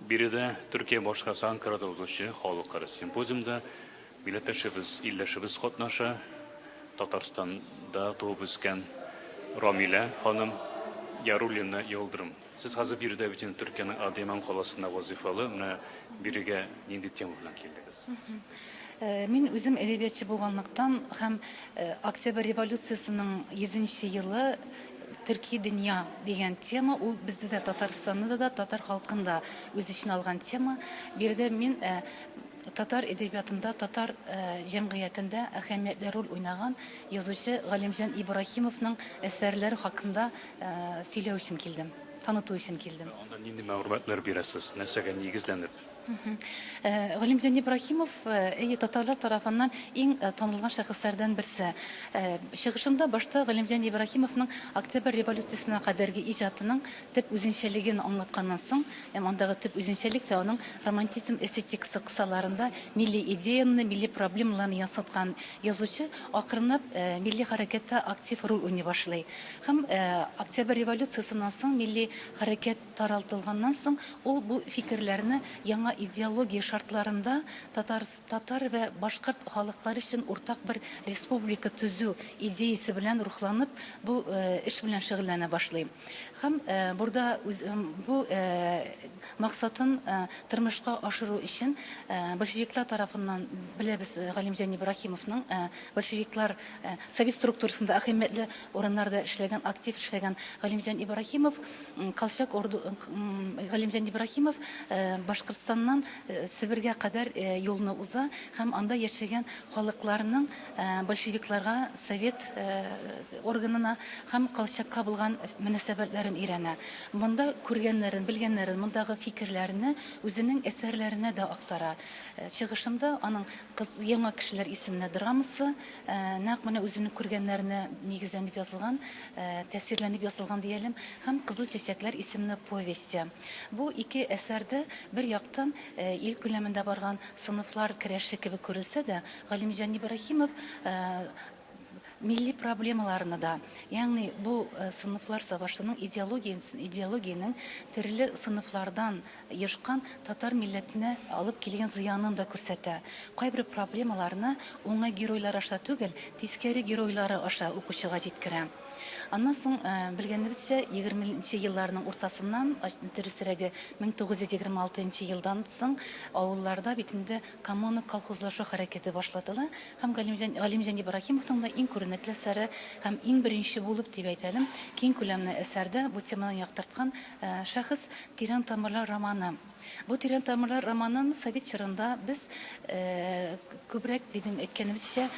Биредә Төркия башкасы Анкарада узучы халыкара симпозиумда милләттәшебез, илләшебез катнаша. Татарстанда туып үскән Рамилә ханым Яруллина Йылдырым. Сез хәзер биредә бит инде Төркиянең Адыйман каласында вазыйфалы. Менә бирегә нинди тема белән килдегез? Мин үзем әдәбиятчы булганлыктан һәм Октябрь революциясенең 100 нче елы төрки дөнья дигән тема, ул бездә дә, Татарстанда да, татар халкын да үз эченә алган тема. Биредә мин татар әдәбиятында, татар җәмгыятендә әһәмиятле роль уйнаган язучы Галимҗан Ибраһимовның әсәрләре хакында сөйләү өчен килдем, таныту өчен килдем. Анда нинди мәгълүматлар бирәсез, нәрсәгә нигезләнеп? Галимҗан Ибраһимов и татарлар тарафыннан иң танылган шәхесләрдән берсе. Чыгышында башта Галимҗан Ибраһимовның Октябрь революциясенә кадәрге иҗатының төп үзенчәлеген аңлатканнан соң, һәм андагы төп үзенчәлек тә аның романтизм эстетикасы кысаларында милли идеяны, милли проблемаларны ясаткан язучы акрынлап милли хәрәкәттә актив роль уйный башлый. Һәм Октябрь революциясеннән соң милли хәрәкәт таралтылганнан соң, ул бу фикерләрне яңа идеология шартларында татар татар вә башкорт халыклары өчен уртак бер республика төзү идеясе белән рухланып, бу эш белән шөгыльләнә башлый һәм бурда үз бу максатын тормышка ашыру өчен большевиклар тарафыннан беләбез Галимҗан Ибраһимовның большевиклар совет структурасында әһәмиятле урыннарда эшләгән, актив эшләгән Галимҗан Ибраһимов Колчак орды Галимҗан Ибраһимов Башкортстаннан Себергә кадәр юлны уза һәм анда яшәгән халыкларның большевикларга, совет органына һәм Колчакка булган мөнәсәбәтләрен өйрәнә. Монда күргәннәрен, белгәннәрен, мондагы фикерләрне үзенең әсәрләренә дә актара. Чыгышында аның Кыз яңа кешеләр исеменә драмасы нәкъ менә үзенең күргәннәренә нигезләнеп язылган. тәэсирләнеп язылган диялем, һәм Кызыл чәчәкләр исемле повесте. Бу ике әсәр дә, бер яктан, ил күләмендә барган сыйныфлар керәше кебек күрелсә дә, Галимҗан Ибраһимов милли проблемаларны да, ягъни бу сыйныфлар сабашының идеологиясен, идеологиянең төрле сыйныфлардан Ешкан татар милләтенә алып килгән зыянын да күрсәтә. Кайбер проблемаларны уңай геройлар аша түгел, тискәре геройлары аша укучыга җиткерә. Аннан соң, белгәнебезчә, егерме нче елларның уртасыннан, дөресрәге, мең тугыз йөз егерме алты нчы елдан соң авылларда бит инде коммуна-колхозлашу хәрәкәте башлатыла һәм Галимҗан Галимҗан Ибраһимовның да иң күренекле әсәре һәм иң беренче булып дип әйтәлем, киң күләмле әсәрдә бу теманы яктырткан Шәхес, тирән тамырлар романы. Бу тирән тамырлар романын совет чорында без күбрәк дидем әйткәнебезчә,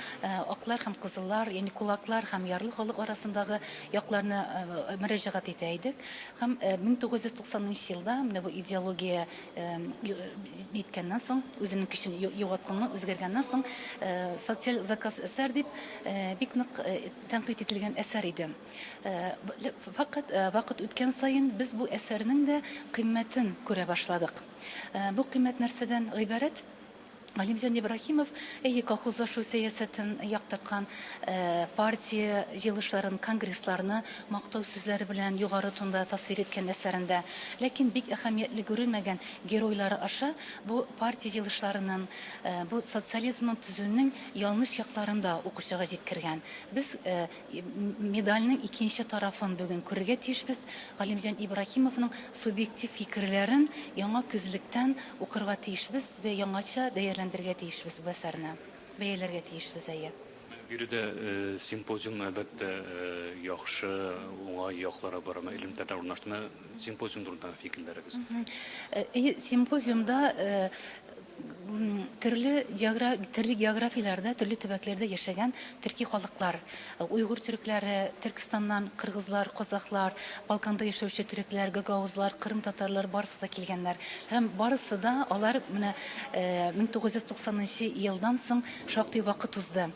аклар һәм кызыллар, ягъни кулаклар һәм ярлы халык арасындагы якларны мөрәҗәгать итә идек. Һәм 1990 нчы елда менә бу идеология җиткәннән соң, үзенең көчен югалткан, үзгәргәннән соң, социаль заказ әсәр дип бик нык тәнкыйть ителгән әсәр иде. Факат вакыт үткән саен без бу әсәрнең дә кыйммәтен күрә башладык. Бу кыйммәт нәрсәдән гыйбарәт? Галимҗан Ибраһимов, әйе, колхозлашу сәясәтен яктырткан, партия җыелышларын, конгрессларны мактау сүзләре белән югары тонда тасвир иткән әсәрендә, ләкин бик әһәмиятле күрелмәгән геройлары аша бу партия җыелышларының, бу социализмның төзүнең ялныш якларын да укучыга җиткергән. Без Медальнең икенче тарафын бүген күрергә тиешбез, Галимҗан Ибраһимовның субъектив фикерләрен яңа күзлектән укырга тиешбез вә яңача дәярләндерергә тиешбез бу әсәрне, бәяләргә тиешбез, әйе. Менә биредә симпозиум, әлбәттә, яхшы, уңай яклары бар, әмма элемтәрләр урнаштымы, симпозиум турында фикерләрегез? Әйе, симпозиумда төрле географияләрдә, төрле төбәкләрдә яшәгән төрки халыклар, уйгур төрекләре, Төркстаннан кыргызлар, казахлар, Балканда яшәүче төрекләр, гагаузлар, кырым татарлары барысы да килгәннәр. Һәм барысы да алар менә 1990 нчы елдан соң шактый вакыт узды.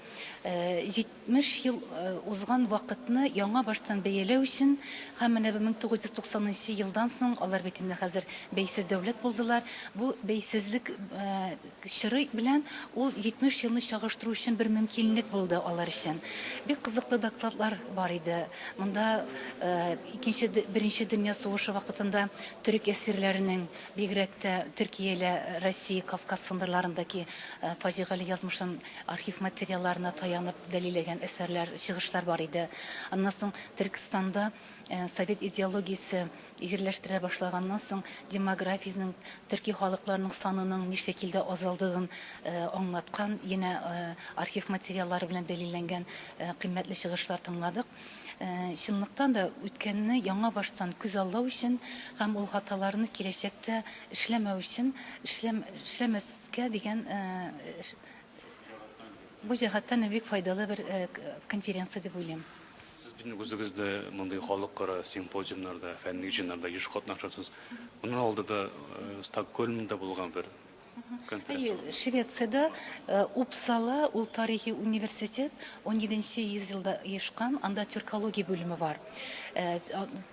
70 ел узган вакытны яңа баштан бәяләү өчен һәм менә бу 1990 нчы елдан соң, алар бит инде хәзер бәйсез дәүләт булдылар, бу бәйсезлек чоры белән ул 70 елны чагыштыру өчен бер мөмкинлек булды алар өчен. Бик кызыклы докладлар бар иде. Монда икенче, беренче дөнья сугышы вакытында төрек әсирләренең, бигрәк тә Төркия илә Россия, Кавказ сындырларындагы фаҗигале язмышын Архив материалларына таянып дәлилләгән әсәрләр, чыгышлар бар иде. Аннан соң Төркестанда совет идеологиясе җирләштерә башлаганнан соң демографиянең, төрки халыкларның санының ни шәкилдә азалдыгын аңлаткан янә архив материаллары белән дәлилләнгән кыйммәтле чыгышлар тыңладык. Чынлыктан да, үткәнне яңа баштан күз аллау өчен һәм ул хаталарны киләчәктә эшләмәү өчен, эшләм, эшләмәс, Кә дигән бу җәһәттән бик файдалы бер конференция дип уйлыйм. Сез бит үзегез дә мондый халыкара симпозиумнарда, фәнни җыеннарда еш катнашасыз. Моннан алда да Стокгольмда булган бер конференция. Әйе, Швециядә Упсала, ул тарихи университет, унҗиденче йөз елда оешкан, анда тюркология бүлеме бар.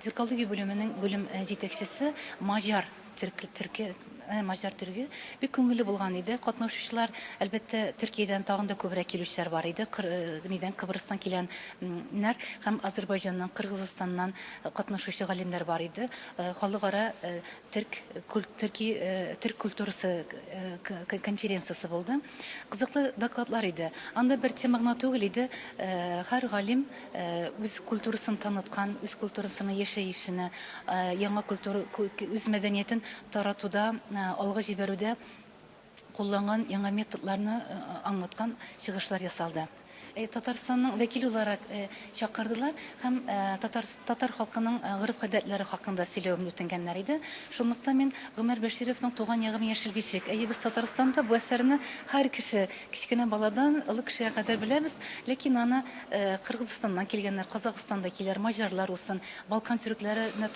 Тюркология бүлеменең бүлем җитәкчесе маҗар. Төрки төрки э маҗар төрге бик күңелле булган иде. Катнаушучылар, әлбәттә, Төркиядән тагын да күбрәк килүчеләр бар иде. Кыр э нидән Кыбрыстан килән нәр һәм Азербайҗаннан, Кыргызыстаннан катнашучы галимнәр бар иде. Э халыкара э төрк куль төрки э төрк культурасы э кы конференциясе булды. Кызыклы докладлар иде. Анда бер тема гына түгел иде, һәр галим үз культурасын таныткан, үз культурасының яшәешенә, яңа культура, үз мәдәниятен таратуда, алга җибәрүдә кулланган яңа методларны аңлаткан чыгышлар ясалды. Татарстанның вәкиле уларак чакырдылар һәм татар халкының гореф-гадәтләре хакында сөйләвемне үтенгәннәр иде. Шунлыктан мин Гомәр Бәшировның Туган ягым яшел бишек, әйе, без Татарстанда бу әсәрне һәр кеше, кечкенә баладан олы кешегә кадәр беләбез, ләкин аны Кыргызыстаннан килгәннәр, Казакъстан вәкилләре, маҗарлар усын, Балкан төрекләре не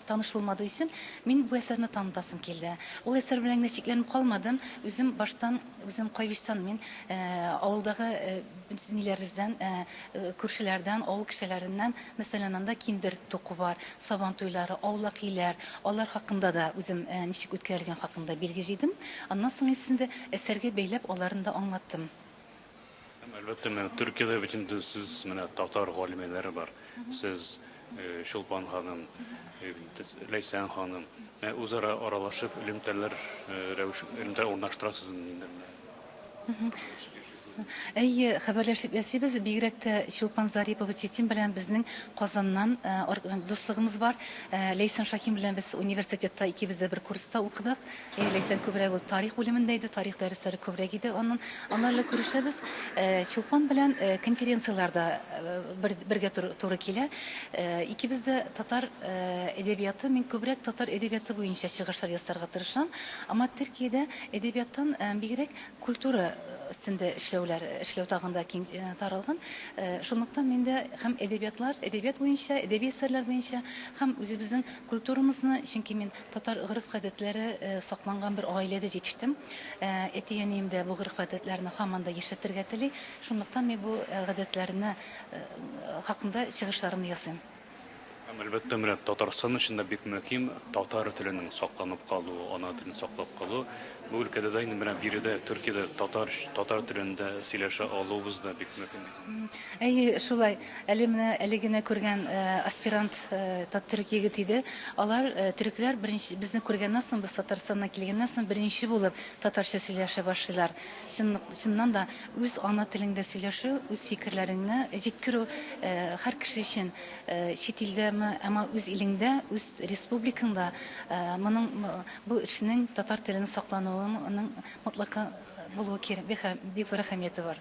таныш булмады өчен мин бу әсәрне танытасым килде. Ул әсәр белән генә чикләнеп калмадым, үзем баштан Үзем Кайбичтан, мин авылдагы ниләребездән, күршеләрдән, авыл кешеләреннән, мәсәлән, анда киндер туку бар, Сабан туйлары, аулак өйләр, алар хакында да үзем ничек үткәрелгән хакында билге җыйдым. Аннан соң инде әсәргә бәйләп аларын да аңлаттым. Һәм әлбәттә, менә Төркиядә бит инде сез менә татар галимәләре бар. Сез Чулпан ханым, Ләйсән ханым, ә үзара аралашып элемтәләр рәвеш элемтә урнаштырасызмы инде? Әйе, хәбәрләшеп яшибез. Бигрәк тә Чулпан Зарипова Читин белән безнең Казаннан дуслыгыбыз бар. Ләйсән Шахим белән без университетта икебез дә бер курста укыдык. Әйе, Ләйсән күбрәк ул тарих бүлемендә иде, тарих дәресләре күбрәк иде анын. Аны әле күрешәбез. Чулпан белән конференцияләрдә бергә туры килә. Икебез дә татар әдәбияты, мин күбрәк татар әдәбияты буенча чыгышлар ясарга тырышам. Аңа Төркиядә әдәбияттан бигрәк культура өстендә эшләүләр, эшләү тагын да киң таралган. Шунлыктан мин дә һәм әдәбиятлар, әдәбият буенча, әдәби әсәрләр буенча һәм үзебезнең культурамызны, чөнки мин Татар гореф-гадәтләре сакланган бер гаиләдә җитештем. Әти-әнием дә бу гореф-гадәтләрне һаман да яшәтергә тели. Шунлыктан мин бу гадәтләрне хакында чыгышларымны ясыйм. Һәм, әлбәттә, менә Татарстан өчен дә бик мөһим татар теленең сакланып калуы, ана телен саклап калу. Бу өлкәдә дә инде менә биредә, Төркиядә татар телендә сөйләшә алуыбыз да бик мөһим. Әйе, шулай. Әле менә әле генә күргән аспирант тат-төрек егет иде. Алар, төрекләр, беренче безне күргәннән соң, без Татарстаннан килгәннән соң, беренче булып татарча сөйләшә башлыйлар. Чынлык, чыннан да, үз ана телеңдә сөйләшү, үз фикерләреңне җиткерү һәр кеше өчен, чит илдәме, әмма үз илеңдә, үз республикаңда моның, бу эшнең, татар телен саклануының мотлака булуы кирәк, бик зур әһәмияте бар.